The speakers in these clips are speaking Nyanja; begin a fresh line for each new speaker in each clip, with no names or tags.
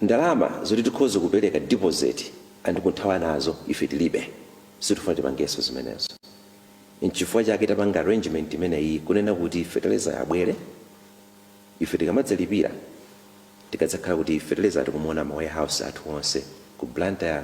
Ndalama zoti tikhoze kupereka deposit andikuthawa nazo ife tilibe. Sitifuna tipangeso zimenezo. Nchifukwa chake tapanga arrangement imeneyi kunena kuti fertilizer yo abwere, ife tikamadzalipira tikadzakhala kuti fertilizer yo tikumuona ma warehouse athu onse ku Blantyre,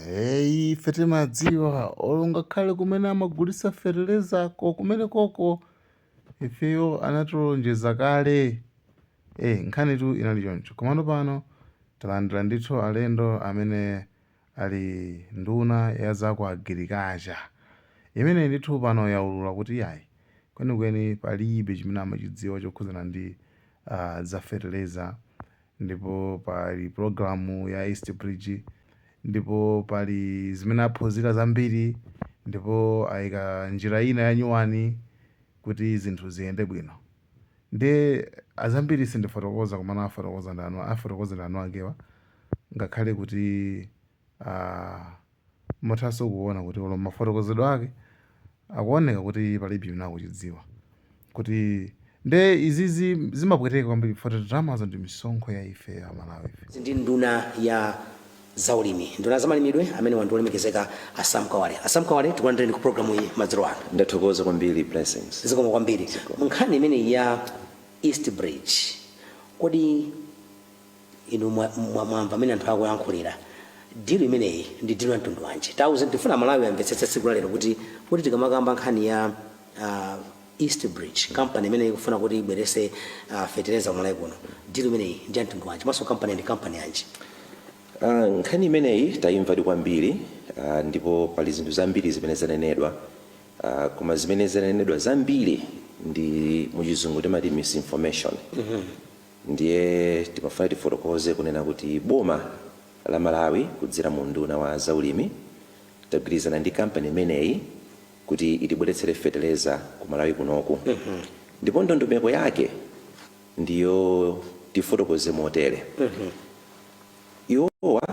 Eyi ife timadziwa olo ngakhale kumene amagulitsa fertilizer ko kumene koko ifeyo anatilonjeza kale eh nkhani tu inali choncho komano pano talandira ndithu alendo amene ali nduna ya za ku agirikacha imeneyi ndithu pano yaulula kuti iyayi kwenikweni palibe chimene amachidziwa chokhudzana ndi ah, za fertilizer Ndipo pali pulogalamu ya East Bridge Ndipo pali zimene aphunzira zambiri Ndipo ayika njira ina yanyuwani Kuti zinthu ziyende bwino Nde azambiri sindifotokoza komano afotokoza awo Afotokoza ndi eniakewa Ngakhale kuti Muthanso kuona kuti olo m'mafotokozedwe ake akuoneka kuti palibe chimene akuchidziwa kuti nde izizi zimapweteka kwambiri chifukwa choti ndalamazo ndi misonkho ya ife a Malawife. Iyi ndi nduna
ya za ulimi, nduna za malimidwe amenewa ndi olemekezeka a Sam Kawale. A Sam Kawale tikulandireni ku program iyi madzulo ano. Ndathokoza kwambiri
Blessings. Zikomo kwambiri. Zikomo.
Nkhani imeneyi ya East Bridge kodi. inu mwa, mwa, mwamva mmene anthu akuyankhulira dilu imeneyi ndi dilu ya mtundu wanji tiuzeni ndifuna malawi amvetsetse tsiku la lero kuti kuti tikamakamba nkhani ya uh, east bridge company imene ikufuna kuti ibweretse uh, fetereza kumalawi kuno dilu imeneyi ndi ya mtundu wanji komanso company ndi company yanji
Ah, nkhani imeneyi tayimvadi kwambiri ah, ndipo pali zinthu zambiri zimene zanenedwa ah, koma zimene zanenedwa zambiri ndi muchizungu timati misinformation Ndiye timafuna tifotokoze kunena kuti boma la Malawi kudzera mu unduna wa za ulimi tagwirizana ndi kampani imeneyi kuti itibweretsere fetereza ku Malawi kunoku ndipo ndondomeko yake ndiyo tifotokoze motere iwowa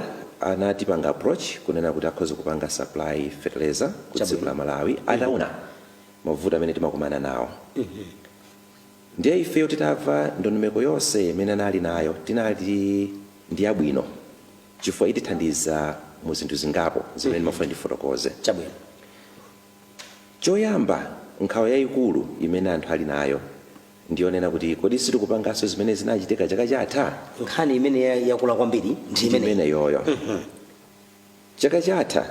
anatipanga approach kunena kuti akhoza kupanga supply fetereza ku dziko la Malawi ataona mavuto amene timakumana nawo. Ndiye ifeyo titamva ndondomeko yonse imene anali nayo tinati ndiyabwino chifukwa itithandiza mu zinthu zingapo zimene ndimafuna ndifotokoze. Chabwino. Choyamba nkhawa yayikulu imene anthu ali nayo ndiyonena kuti kodi sitikupanganso zimene zinachitika chaka chatha? Nkhani imene
yakula kwambiri ndi imeneyi. Ndimeneyoyo.
Chaka chatha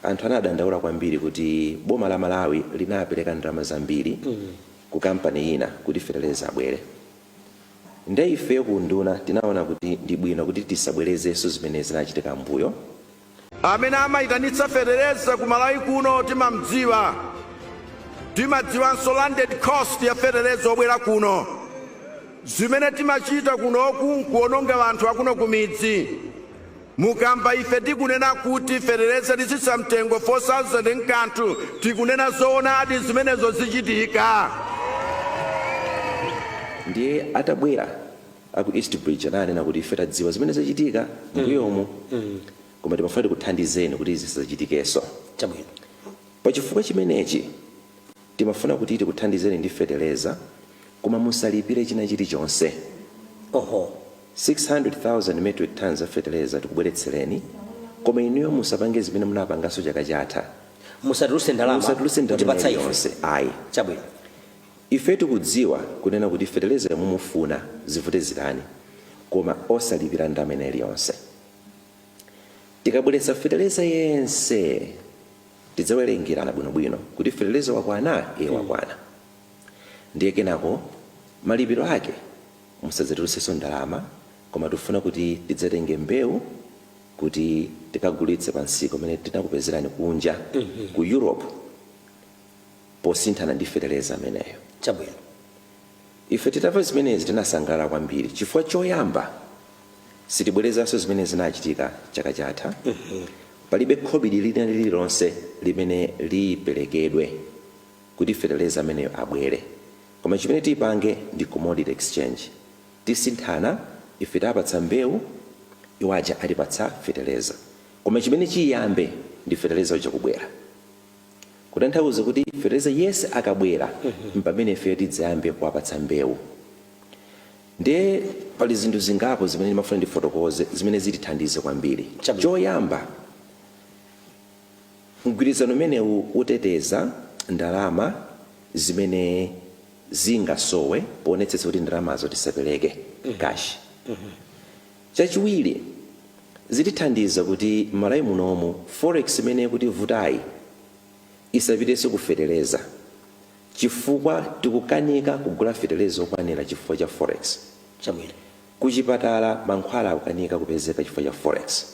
anthu anadandaula kwambiri kuti boma la Malawi linapereka ndalama zambiri ku kampani ina kuti feteleza abwere nde ifeyo ku unduna tinaona kuti ndi bwino kuti tisabwerezenso zimene zinachitika mmbuyo.
Amene amaitanitsa fetereza ku Malawi kuno timamdziwa. Timadziwanso landed cost ya fetereza obwera kuno. Zimene timachita kuno nkuononga anthu akuno kumidzi. Mukamva ife tikunena kuti feteleza titsitsa mtengo 4000 nkanthu tikunena zoonadi zimenezo
zichitika. Ndiye atabwera aku East Bridge ananena kuti ife tadziwa zimene zachitika mmbuyomu koma timafuna tikuthandizeni kuti izi zisachitikenso. Pa chifukwa chimenechi timafuna kuti tikuthandizeni ndi feteleza koma musalipire china chilichonse. 600,000 metric tonnes a fetereza tikubweretsereni koma inuyo musapange zimene munapanganso chaka chatha. Musatulutse
ndalama ina iliyonse
ayi. Chabwino. Ife tikudziwa kunena kuti fetereza yo mumufuna zivute zitani koma osalipira ndalama ina iliyonse. Tikabweretsa fetereza yense tidzawerengerana bwinobwino kuti fetereza wakwana? Ee wakwana. Ndiye kenako malipiro ake? Musadzatulutsenso ndalama, koma tifuna kuti tidzatenge mbewu kuti tikagulitse pa msika umene tinakupezerani kunja ku Europe posinthana ndi feteleza ameneyo. Chabwino. Ife titamva zimenezi tinasangalala kwambiri chifukwa choyamba sitibwerezanso zimene zinachitika chaka chatha. Palibe khobidi lina lililonse limene liperekedwe kuti feteleza ameneyo abwere. Koma chimene tipange ndi commodity exchange. Tisinthana, ife tiapatsa mbeu, iwo aja atipatsa feteleza. Koma chimene chiyambe ndi feteleza uja kubwera. Kutanthauza kuti feteleza yese akabwera mpamene ifeyo tidzayambe kuwapatsa mbeu. Ndiye pali zinthu zingapo zimene ndimafuna ndifotokoze zimene zitithandize kwambiri. Chabwino. Choyamba. Mgwirizano umenewu uteteza ndalama zimene zingasowe poonetsetsa kuti ndalamazo tisapeleke, cash. Chachiwiri, zitithandiza kuti m'Malawi munomu forex imene ikutivutayi isapitenso ku feteleza chifukwa tikukanika kugula feteleza okwanira chifukwa cha forex. Chabwino. Kuchipatala mankhwala akukanika kupezeka chifukwa cha forex,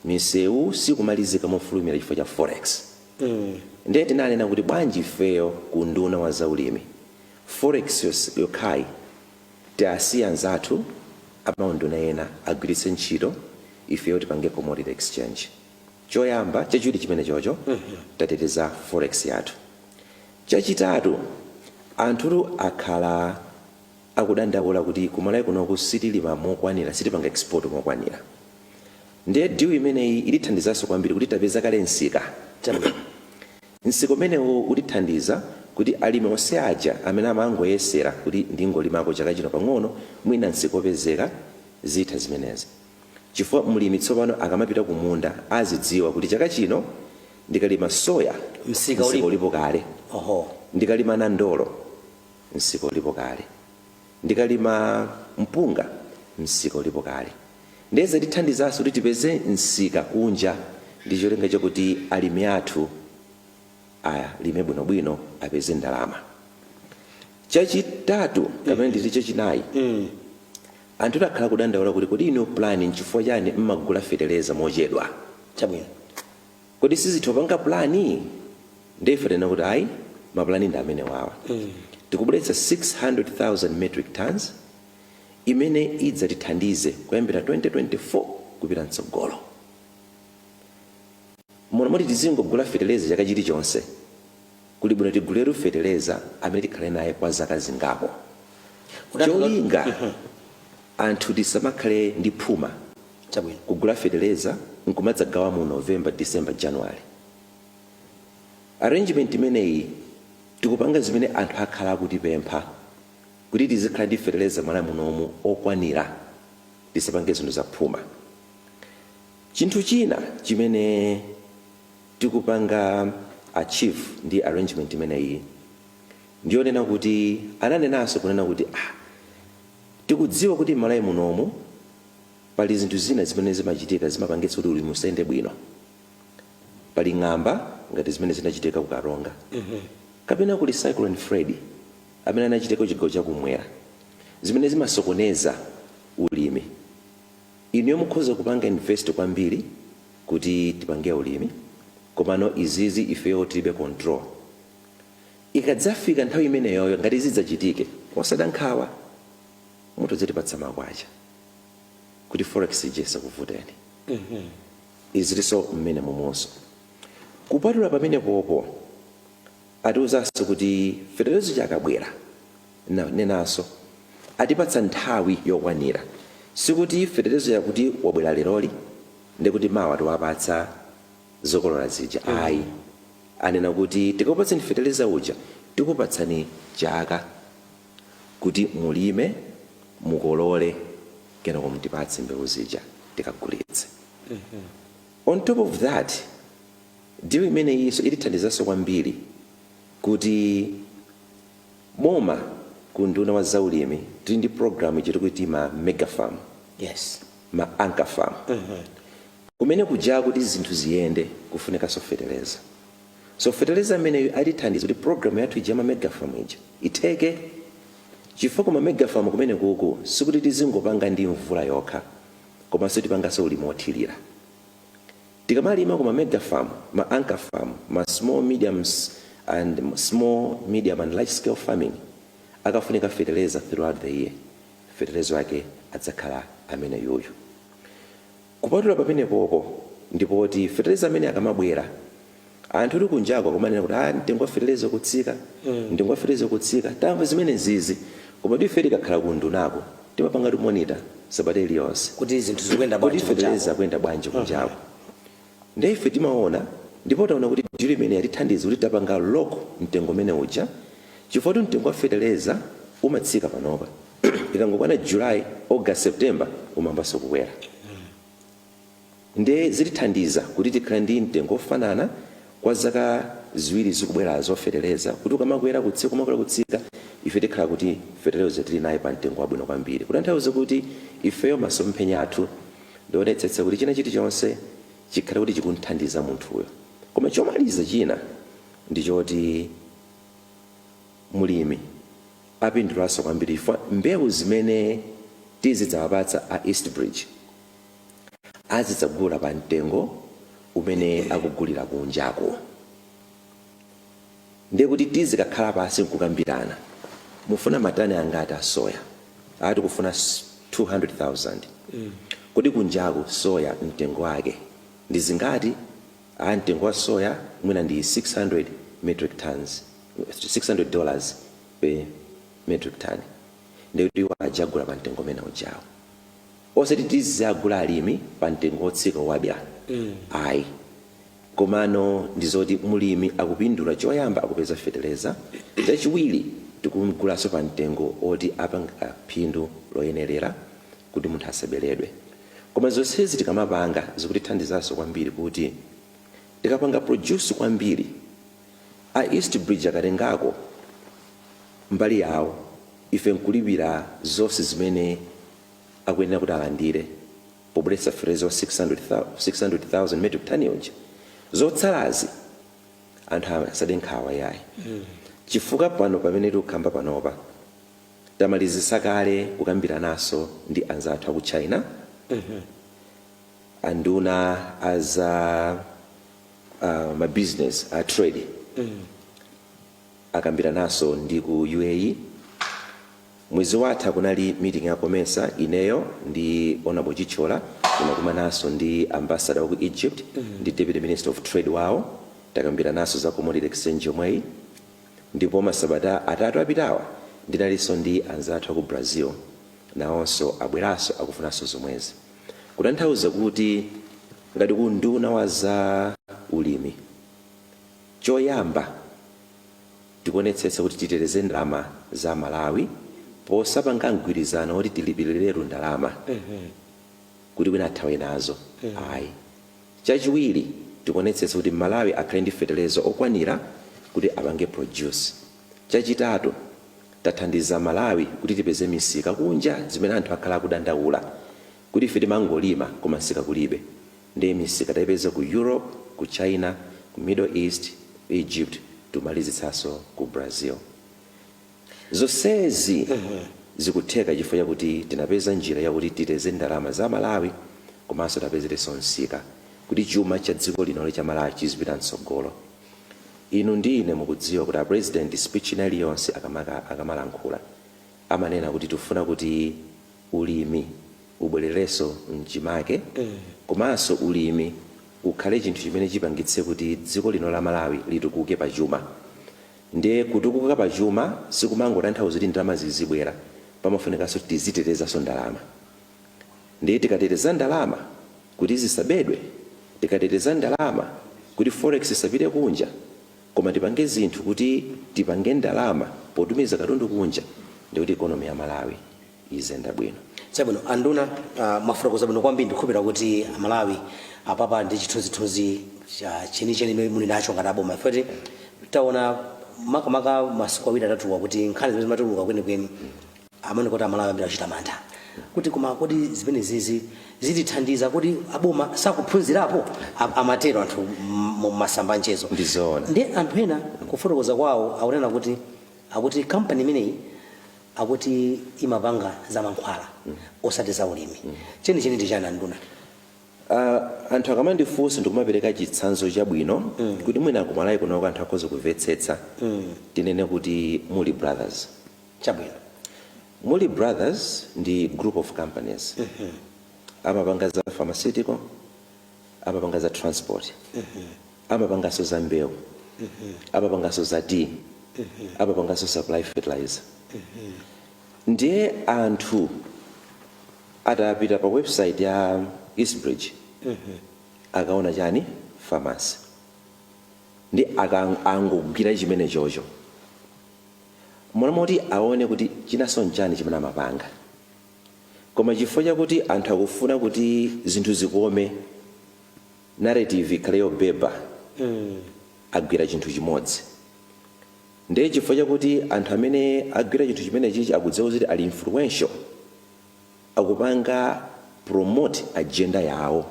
misewu sikumalizika mofulumira chifukwa cha forex ndiye tinanena kuti bwanji ifeyo ku unduna wa zaulimi forex yokhayi tiasiye anzathu a maunduna ena agwiritse ntchito ifeyo tipange commodity exchange. Choyamba, chachiwiri chimenechocho tateteza forex yathu. Chachitatu, anthutu akhala. akudandaula kuti kumalawi kunoku sitilima mokwanila sitipanga export mokwanila ndiye deal imeneyi itithandizaso kwambiri kuti tapeza kale nsika nsika umenewu utithandiza kuti alimi onse aja amene amangoyesera kuti ndingolimako chaka chino pang'ono mwina nsika upezeka zitha zimenezi chifukwa mlimi tsopano akamapita kumunda azidziwa kuti chaka chino ndikalima soya nsika ulipo kale ndikalima nandolo msika ulipo kale. Ndikalima mpunga, msika ulipo kale. Ndiye zitithandizanso kuti tipeze msika kunja ndi cholinga chakuti alimi athu alime bwinobwino apeze ndalama. Chachitatu kapena nditi chachinayi, anthu akhala akudandaula kuti kodi inu n'chifukwa chani mmagula feteleza mochedwa? kodi simutha kupanga plan? Ndiye ife tanena kuti ayi ma plan ndi amenewawa. Tikubweretsa 600,000 metric tonnes imene idzatithandize kuyambira 2024 kupita mtsogolo muno moti tisizingogula fetereza chaka chilichonse. kuli bwino tiguliretu fetereza amene tikhale naye kwa zaka zingapo cholinga anthu tisamakhale ndi phuma kugula fetereza nkumadzagawa mu november december january arrangement imeneyi tikupanga zimene anthu akhala akutipempha kuti tizikhala ndi fetereza mmalawi munomu okwanira tisapange zinthu zaphuma chinthu china chimene tikupanga achieve ndi arrangement imeneyi ndi chonena kuti ananenanso kunena kuti ah tikudziwa kuti mmalawi munomu pali zinthu zina zimene zimachitika zimapangitsa kuti ulimi usayende bwino pali ng'amba ngati zimene zinachitika ku karonga kapena kuli cyclone freddy amene anachitika kuchigawo chakumwera zimene zimasokoneza ulimi inuyo mukhoza kupanga invest kwambiri kuti tipange ulimi komano izizi ifeyo tilibe control ikadzafika nthawi imeneyoyo ngati zidzachitike osadandaula nkhawa mutha kuzitipatsa makwacha kuti forex ija isakuvuteni izilinso mmenemomonso kupatula pamenepopo Atiuzanso kuti feterezo uja akabwera anenanso atipatsa nthawi yokwanira sikuti feterezo yakuti wabwera leroli ndekuti mawa tiwapatse zokolola zija ayi anena kuti tikakupatsani fetereza uja tikupatsani chaka kuti mulime mukolole kenako mtipatse mbewu zija tikagulitse on top of that Deal imeneyinso itithandizanso kwambiri kuti boma ku unduna wa za ulimi tili ndi program ija tikuti ma mega farm, ma anchor farm. Kumene kuja kuti zinthu ziyende kufunikanso feteleza. So feteleza ameneyu atithandiza kuti program yathu ija ya ma mega farm ija itheke chifukwa ku ma mega farm kumenekuku sikuti tizingopanga ndi mvula yokha komanso tipanganso ulimi wothirira. Tikamalima ku ma mega farm, ma anchor farm, ma small mediums and small medium and large scale farming akafunika fetereza throughout the year fetereza wake adzakhala ameneyuyu. Kupatula pamenepopo ndi choti fetereza ameneyi akamabwera Anthutu kunjako akumanena kuti ah mtengo wa feteleza ukutsika, mtengo wa feteleza ukutsika. Tamva zimenezizi, komatu ife tikakhala ku undunako timapangatu monitor sabata iliyonse kuti zinthu zikuyenda kuti
bwanji, feteleza akuyenda
bwanji kunjako. Ndiye ife timaona ndipo taona kuti deal imeneyi yatithandiza kuti tapanga lock mtengo umene uja chifukwa mtengo wa feteleza umatsika panopa, ikangokwana July, August, September umayambanso kukwera. nde zitithandiza kuti tikhale ndi mtengo ofanana kwa zaka ziwiri zikubwerazo fetereza kuti ukamakwera kutsika kumakwera kutsika ife tikhala kuti fertilizer tili naye pa mtengo wabwino kwambiri kutanthauza kuti ifeyo masomphenya athu ndi oonetsetsa kuti china chilichonse chikhale kuti chikumuthandiza munthuyo koma chomaliza china ndi choti mulimi apindulaso kwambiri chifukwa mbewu zimene tizidzawapatsa a east bridge azidzagula pa mtengo umene akugulira kunjako ndiye kuti tizikakhala pansi nkukambirana mufuna matani angati a soya a tikufuna s- 200000 kodi kunjako soya mtengo wake ndi zingati a mtengo wa soya mwina ndi 600 metric tons 600 dollars per metric ton ndikuti iwo adzagula pa mtengo umene ujawo osati tiziwagula alimi pa mtengo wotsika owadyera ayi komano ndi zoti mulimi akupindula choyamba akupeza feteleza chachiwiri tikumgulaso pa mtengo oti apanga phindu loyenerera kuti munthu asaberedwe koma zonsezi tikamapanga zikutithandizaso kwambiri kuti tikapanga produce kwambiri a east bridge akatengako mbali yawo ife nkulipira zonse zimene akuyenera kuti alandire pobweretsa fertilizer wa 600,000 metric ton uja zotsalazi anthu asade nkhawa yayi chifukwa pano pamene tikukamba panopa tamalizisa kale kukambiranaso ndi anzathu aku china anduna a za mabusiness a trade akambirananso ndi ku UAE. Mwezi watha kunali meeting ya Comesa, ineyo ndi Honourable Chithyola tinakumananso ndi Ambassador wa ku Egypt ndi Deputy Minister of Trade wawo takambirananso za commodity exchange yomweyi ndipo masabata atatu apitawa ndinalinso ndi anzathu aku Brazil nawonso abweranso akufunanso zomwezi kutanthauza kuti ngati ku unduna wa za ulimi Choyamba tikuonetsetsa kuti titeteze ndalama za Amalawi posapanga mgwirizano woti tilipiriretu ndalama kuti wina athawe nazo ayi. Chachiwiri tikuonetsetsa kuti Mmalawi akhale ndi fetereza okwanira kuti apange produce. Chachitatu tathandiza Amalawi kuti tipeze misika kunja zimene anthu akhala akudandaula kuti ife timangolima koma msika kulibe. Nde misika taipeza ku Europe, ku China, ku Middle East, Egypt tikumalizitsaso ku Brazil. Zonsezi zikutheka chifukwa chakuti tinapeza njira yakuti titeteze ndalama za Amalawi komanso tiwapezereso msika kuti chuma cha dziko lino cha Malawi chizipita mtsogolo. Inu ndi ine mukudziwa kuti a President speech ina iliyonse akamalankhula amanena kuti tifuna kuti ulimi. ubwererenso mchimake komanso ulimi ukhale chinthu chimene chipangitse kuti dziko lino la Malawi litukuke pa chuma nde kutukuka pa chuma sikumangotanthauza kuti ndalama zizibwera pamafunikanso tizitetezanso ndalama nde tikateteza ndalama kuti zisabedwe tikateteza ndalama kuti forex isapite kunja koma tipange zinthu kuti tipange ndalama potumiza katundu kunja ndekuti economy ya Malawi izenda bwino. Chabwino
anduna uh, mwafotokoza bwino kwambiri ndikhulupirira kuti amalawi apapa ali ndi chithunzithunzi cha chenicheni chimene muli nacho ngati aboma poti taona makamaka masiku awiri atatuwa kuti nkhani zimene zimatuluka kwenikweni amaoneka kuti amalawi ambiri achita mantha kuti koma kodi zimenezizi zitithandiza akuti aboma sakuphunzirapo A- amatero anthu m- mu masamba anchezo Ndi zoona. ndi anthu
ena
kufotokoza kwawo akunena kuti akuti kampani imeneyi akuti imapanga zamankhwala osati zaulimi. Chenicheni ndi chani anduna? Aaah
anthu akamandifunsa ndikumapereka chitsanzo chabwino kuti mwina ku Malawi kunoko anthu akhoza kuvetsetsa tinene kuti Mulli Brothers. Chabwino.
Mulli
Brothers ndi group of companies amapanga za pharmaceutical, amapanga za transport amapanganso za mbewu amapanganso za tea amapanganso supply fertilizer ndiye anthu atapita pa website ya eastbridge akaona chani pharmacy ndi akang- angogwira chimene chocho mmalo moti aone kuti chinanso nchani chimene amapanga Koma chifukwa chakuti anthu akufuna kuti zinthu zikome, narrative ikhale yobeba, agwira chinthu chimodzi. Ndiye chifukwa chakuti anthu amene agwira chinthu chimenechichi akudziwa kuti ali influential, akupanga promote agenda yawo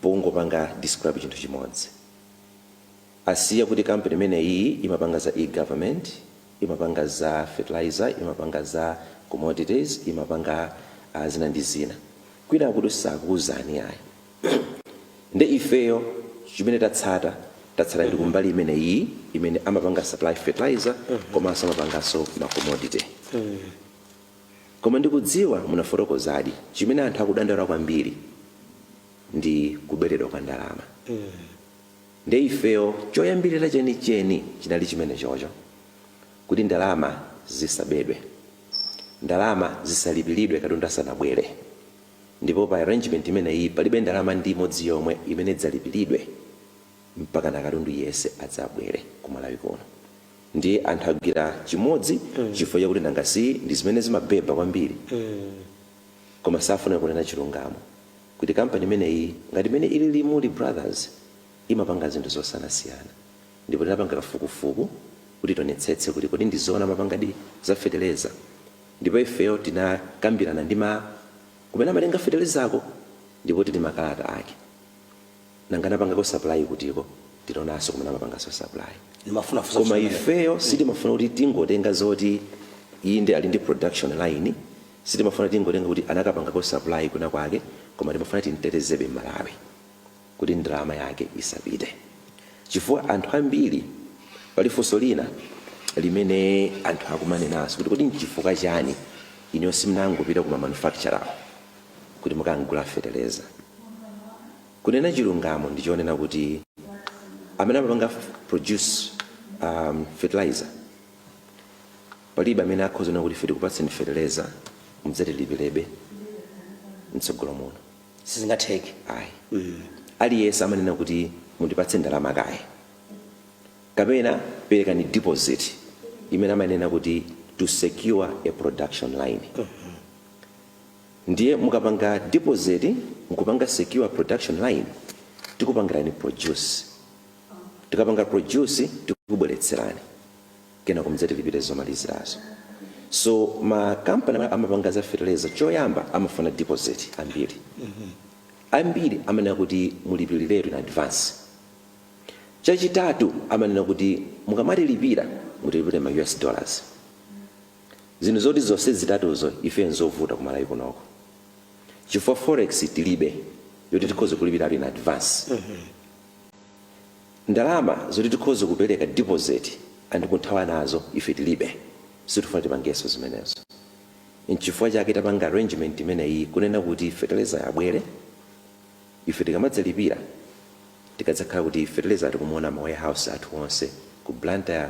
pongopanga describe chinthu chimodzi. asiya kuti company imeneyi imapanga za e government, imapanga za fertilizer, imapanga za commodities, imapanga a zina ndi zina kwinaku sakuuzani ayi nde ifeyo chimene tatsata tatsata ndi kumbali imeneyi imene amapanga supply fertilizer komanso amapanganso ma commodity koma ndikudziwa munafotokozadi chimene anthu akudandaula kwambiri ndi kuberedwa kwa ndalama. Ndiye ifeyo choyambirira chenicheni chinali chimenechocho, kuti ndalama zisabedwe, ndalama zisalipiridwe katundu asanabwere. Ndipo pa arrangement imeneyiyi palibe ndalama ndi imodzi yomwe imene idzalipiridwe mpakana katundu yense adzabwere ku Malawi kuno. Ndiye anthu agwira chimodzi chifukwa chakuti nanga si ndi zimene zimabeba kwambiri? Koma safuna kunena chilungamo. kuti company imeneyi ngati mmene ilili Mulli Brothers imapanga zinthu zosiyanasiyana ndipo tinapanga kafukufuku kuti tionetsetse kuti kodi ndi zoona amapangadi za fetereza ndipo ifeyo tinakambirana ndi ma kumene amatenga feterezako ndipo tili ndi makalata ake nanga anapangako supply kutiko tinaonanso kumene amapanganso supply Ndimafunafusa koma chimene- ifeyo sitimafuna kuti tingotenga zoti inde ali ndi production line Sitimafuna tingotenga kuti anakapangako supply kwina kwake koma timafuna timtetezebe Mmalawi kuti ndalama yake isapite chifukwa anthu ambiri pali funso lina limene anthu akumanenanso kuti kodi nchifukwa chani inuyo simunangopita ku ma manufacturer-wo kuti mukagule fetereza. Kunena chilungamo ndi chonena kuti amene amapanga produce fertilizer, Palibe amene akhoza kunena kuti ife tikupatseni feteleza mudzatilipirebe mtsogolo muno. Sizingatheke
ayi.
Aliyense amanena kuti mundipatse ndalama kaye kapena perekani deposit imene amanena kuti to secure a production line. Ndiye mukapanga deposit n'kupanga secure production line tikupangirani produce. Tikapanga produce tikubweretserani. kenako mudzatilipire zomalizirazo so ma company amene amapanga za fertilizer choyamba amafuna deposit ambiri ambiri amanena kuti mulipiriretu in advance chachitatu amanena kuti mukamatilipira mutilipire ma us dollars zinthu zoti zonse zitatuzo ife nzovuta kumalawi kunoko chifukwa forex tilibe yoti tikhoze kulipiriratu in advance Ndalama zoti tikhoze kupereka deposit and kuthawa nazo ife tilibe. Sitifuna tipangeso zimenezo. Nchifukwa chake tapanga arrangement imeneyi kunena kuti fertilizer yo abwere ife tikamadzalipira tikadzakhala kuti fertilizer yo tikumuona m'ma warehouse athu onse ku Blantyre,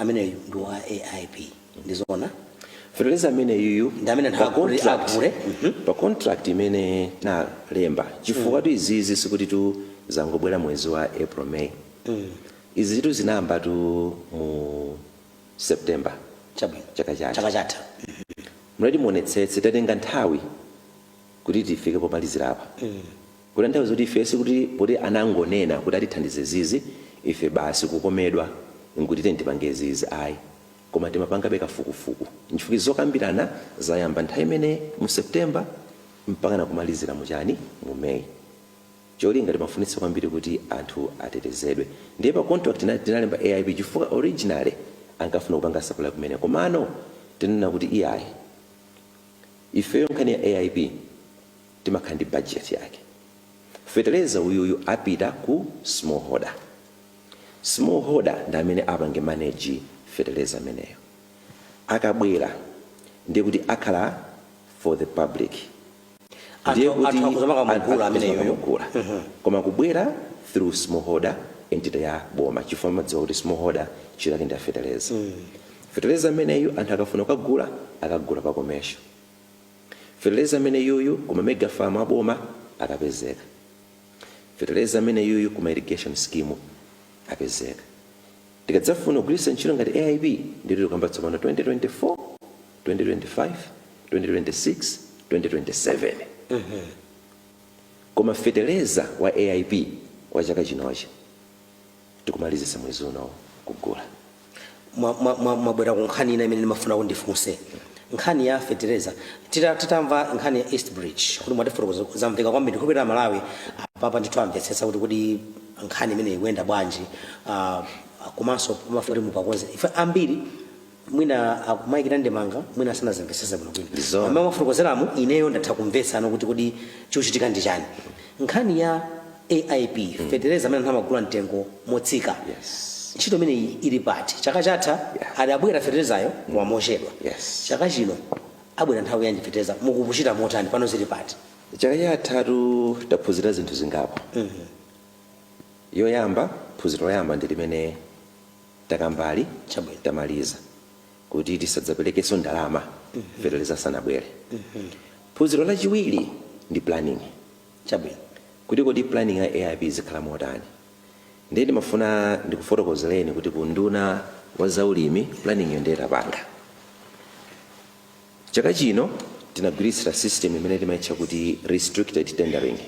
ameneyu ndi wa aip ndizona
fertilizer amene yuyu Ndi amene pa nthawi kuti
contract-
agule. pa contract imene nalemba chifukwatu izizi sikutitu zangobwera mwezi wa april may izizitu zinayambatu mu september chabwino Chaka chatha. chaka chatha mleti muonetsetse tatenga nthawi kuti tifike pomalizira apa Kutanthauza kuti ife sikuti poti anangonena kuti atithandize zizi ife basi kukomedwa nkuti tiyeni tipange zizi ayi koma timapangabe kafukufuku nchifukwa zokambirana zayamba nthawi imeneyi mu September mpakana kumalizira mu chani mu May cholinga timafunitsa kwambiri kuti anthu atetezedwe ndiye pa contract ina tinalemba AIP chifukwa originally ankafuna kupanga supply kumene komano tinanena kuti iyayi ifeyo nkhani ya AIP timakhala ndi budget yake. Fetereza uyuyu apita ku small holder. Small holder ndi amene apange manage fetereza ameneyo. Akabwera ndiye kuti akhala for the public. Ndiye Anthu- kuti anthu akhoza mpaka anthu kugula akhoza ameneyoyo. kugula. Koma kubwera through small holder entity ya boma chifukwa mukudziwa kuti small holder ntchito yake ndi ya fetereza. Fetereza ameneyu anthu akafuna kukagula akagula pa commercial. Feteleza ameneyuyu kuma mega farm a boma akapezeka. Feteleza ameneyuyu kuma irrigation scheme apezeka. Tikadzafuna kugwiritsa ntchito ngati AIP ndiye kuti tikukamba tsopano 2024, 2025, 2026, 2027. Koma feteleza wa AIP wa chaka chinochi. tikumalizisa mwezi uno
kugula mwabwera ku nkhani ina imene ndimafuna kuti ndifunse nkhani ya fetereza titamva nkhani ya east bridge kuti mwatifotokozera zamveka kwambiri ndikhulupirira amalawi apapa ndithu amvetsetsa kuti kodi nkhani imeneyi ikuyenda bwanji uh, komanso pamafunika kuti mupakonze ife ambiri mwina akumayikira ndemanga mwina asanazimvesese bwinobwino Ndizo. mmene mwafotokozeramu ineyo ndatha kumvetsa pano kuti kodi chochitika ndi chani nkhani ya aip fetereza amene anthu amagula mtengo motsika Yes. ntchito imeneyi ili pati chaka chatha Yeah. adabwera feterezayo mochedwa Yes. chaka chino abwera nthawi yanji fetereza mukuchita motani pano zili pati chaka chatha
taphunzira zinthu zingapo yoyamba phunziro loyamba ndi limene takambali tamaliza kuti tisadzapelekeso ndalama feteleza asanabwele phunziro lachiwiri ndi planning kuti kodi planning ya AIP izikhala motani ndiye ndimafuna ndikufotokozeleni kuti ku unduna wa zaulimi planning yo ndiye tapanga Chaka chino tinagwiritsa system imene timaitcha kuti restricted tendering.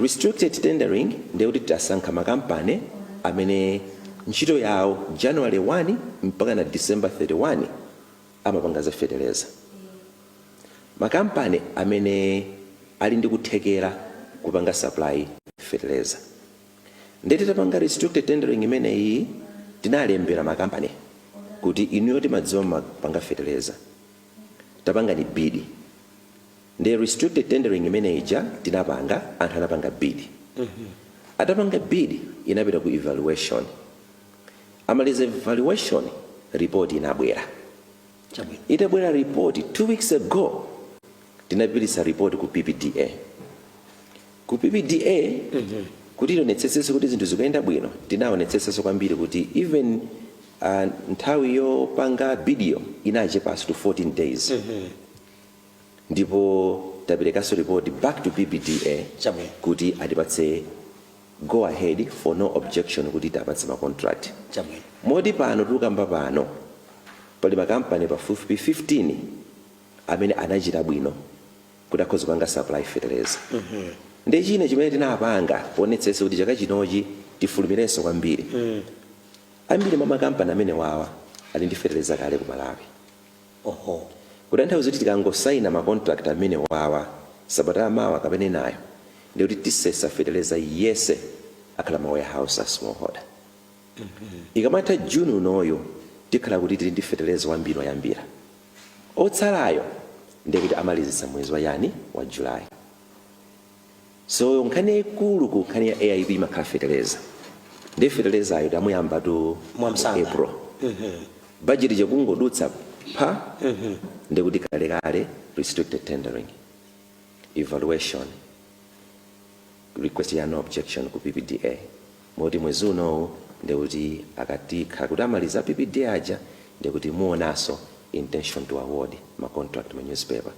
Restricted tendering ndiye kuti tasankha makampani amene ntchito yawo January 1 mpakana December 31 amapanga za feteleza. Makampani amene ali ndi kuthekera kupanga supply feteleza. Ndiye titapanga restricted tendering imeneyi tinalembera makampani kuti inuyo timadziwa mumapanga fetereza tapangani bid ndiye restricted tendering imene ija tinapanga anthu anapanga bid atapanga bid inapita ku evaluation amaliza evaluation report inabwera Chabwino, itabwera report two weeks ago, tinapititsa report ku PPDA. Ku PPDA kuti tionetsetsenso kuti zinthu zikuyenda bwino, tinaonetsetsanso kwambiri kuti even uh, nthawi yopanga bidiyo inachepanso to 14 days. ndipo taperekanso report back to PPDA Chabwino. kuti atipatse go ahead for no objection kuti tiwapatse ma contract. Chabwino. Moti pano tukamba pano pali makampani pafupifupi 15 amene anachita bwino kuti akhoza kupanga supply fertilizer. Ndi china chimene tinapanga kuonetsetsa kuti chaka chinochi tifulumirenso kwambiri. Ambiri mwa makampani amene wawa ali ndi fertilizer kale ku Malawi. Oho. Kutanthauza kuti tikangosaina ma contract amenewawa sabata ya mawa kapena inayo ndiye kuti tisesa feteleza yese akhale ma warehouse a small holder. Mmh. Ikamatha June unoyu tikhala kuti tili ndi feteleza wambiri oyambira. Otsalayo ndiye kuti amalizitsa mwezi wa chani? Wa July. So nkhani yaikulu ku nkhani ya AIP imakhala feteleza ndiye fetelezayo tamuyambatu Mwamsanga. April bajeti changodutsa pha ndiye kuti kalekale restricted tendering evaluation request ya no objection ku PPDA Moti mwezi unowu ndiye kuti akati kha kuti amaliza a PPDA aja ndiye kuti muonaso intention to award ma contract ma newspaper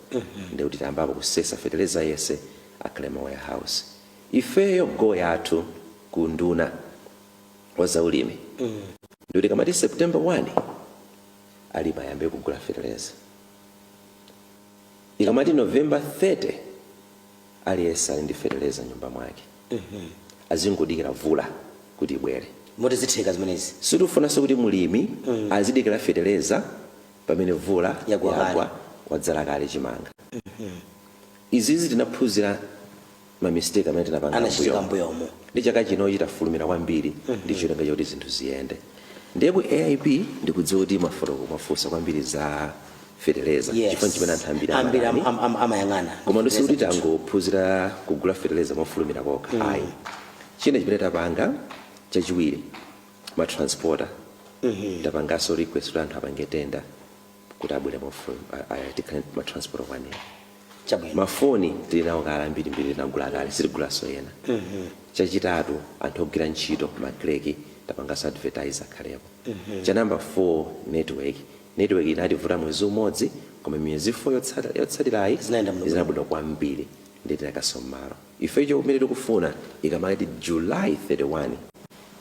ndiye kuti tayambapo kusesa fetereza yese akhale ma warehouse ifeyo goal yathu ku unduna wa za ulimi ndi yoti ikamati September 1 alimi ayambe kugula fetereza ikamati November 30 aliyese ali ndi fetereza mnyumba mwake. azingodikira vula kuti ibwere. Moti
zitheka zimenezi? Sitifunanso kuti
mulimi azidikila feteleza pamene vula Yagwa kale. yagwa wadzala kale chimanga. Izizi tinaphunzira ma mistake amene tinapanga Anachitika m'mbuyomu.
m'mbuyomu. Ndiye chaka
chinochi tafulumira kwambiri ndi cholinga choti zinthu ziyende. Ndiye ku AIP ndikudziwa kuti mwafotokoza mwafunsa kwambiri za feteleza Yes. chifukwa ndi chimene anthu ambiri ambiri amadani. am- am- am-
amayang'ana komano
sikuti tangophunzira kugula feteleza mofulumira kokha ayi china chimene tapanga chachiwiri matransporter tapanganso request kuti anthu apange tenda kuti abwere tikhale ndi matransporter okwanira chabwino mafoni tili nawo kale ambirimbiri tinagula kale sitigulanso ena chachitatu anthu ogwira ntchito makleki tapanganso advertise akhalepo cha number 4 network Netiweki inativuta mwezi umodzi, koma miyezi 4 yotsata, yotsatirayi Zinayenda bwinobwino. zina bwino kwambiri nde tinakonza mmalo. Ife chimene tikufuna ikamati July 31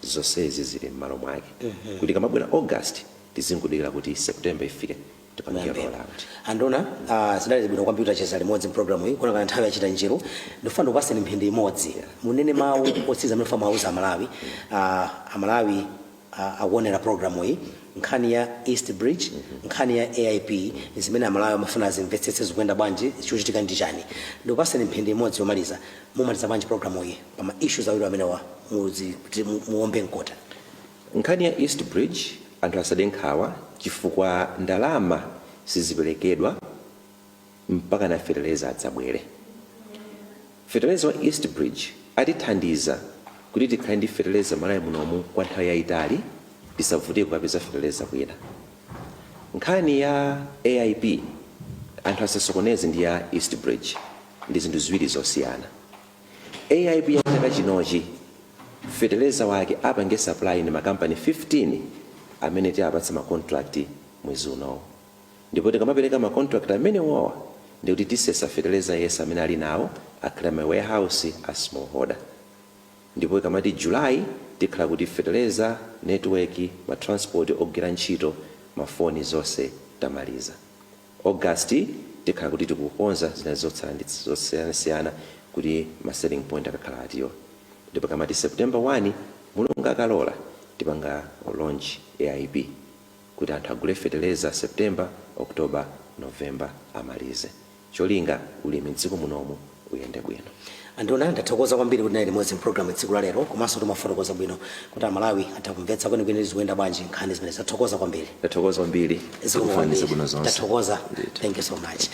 zonsezi zili mmalo mwake kuti ikamabwera August tizingodikira kuti September ifike tipange Muyambe. roll out. Anduna,
ah, zinali bwino kwambiri tacheza limodzi mpulogalamu iyi kuonekana nthawi yachita njiru ndifuna ndikupatseni mphindi imodzi munene mawu otsiriza amene mufuna muwauze amalawi ah, amalawi akuonera programuyi, nkhani ya East Bridge, nkhani ya AIP, zimene Amalawi amafuna azimvetsetse zikuyenda bwanji, chikuchitika ndi chani. Ndikupatseni mphindi imodzi yomaliza, mumalize bwanji programuyi pa ma issues awiri amenewa muzi kuti mu- muombe mkota. nkhani
ya east bridge anthu asade nkhawa chifukwa ndalama siziperekedwa mpakana fetereza adzabwere. Fetereza wa East Bridge atithandiza kuti tikhale ndi fetereza Malawi munomu kwa nthawi yayitali tisavutike kukapeza fetereza kwina. Nkhani ya AIP anthu asasokoneze ndi ya East Bridge ndi zinthu ziwiri zosiyana. AIP ya chaka chinochi fetereza wake apange supply ndi makampani 15 amene tiwapatsa ma contract mwezi unowu. ndipo tikamapeleka ma contract amenewowa ndiye kuti tisesa feteleza yense amene alinawo akhale ma warehouse a small holder ndipo ikamati July tikhala kuti feteleza, network, ma transport ogwirira ntchito ma foni zonse tamaliza. August tikhala kuti tikukonza zina zotsala ndi zosiyanasiyana kuti ma selling point akakhale atiwa ndipo ikamati September 1 mulungu akalola tipanga launch AIP. kuti anthu agule feteleza September, October, November amalize cholinga ulimi m'dziko munomu uyende bwino. Anduna ndathokoza
kwambiri kuti munali limodzi m'pulogalamu tsiku la lero komanso kuti mwafotokoza bwino kuti Amalawi atha kumvetsa kwenikweni kuti zikuyenda bwanji nkhani zimenezi. Ndathokoza kwambiri. Ndathokoza kwambiri. Zikomo
kwambiri. Ndikufunirani zabwino zonse.
Ndathokoza. Ndithu. Thank you so much.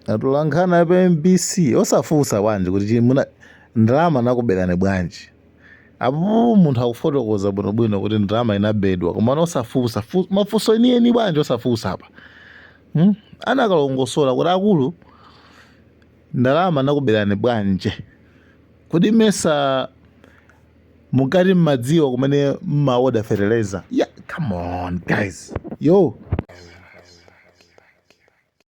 atolankhani a pa mbc osafunsa bwanji kuti chi- muna ndalama anakuberani bwanji apo munthu akufotokoza bwinobwino kuti ndalama inabedwa koma osafunsa fu- mafunso enieni bwanji osafunsa apa hmm? anakalongosola kuti akulu ndalama anakuberani bwanji kodi mesa mukati mmadziwa kumene mmaoda fertilizer yeah, come on guys yo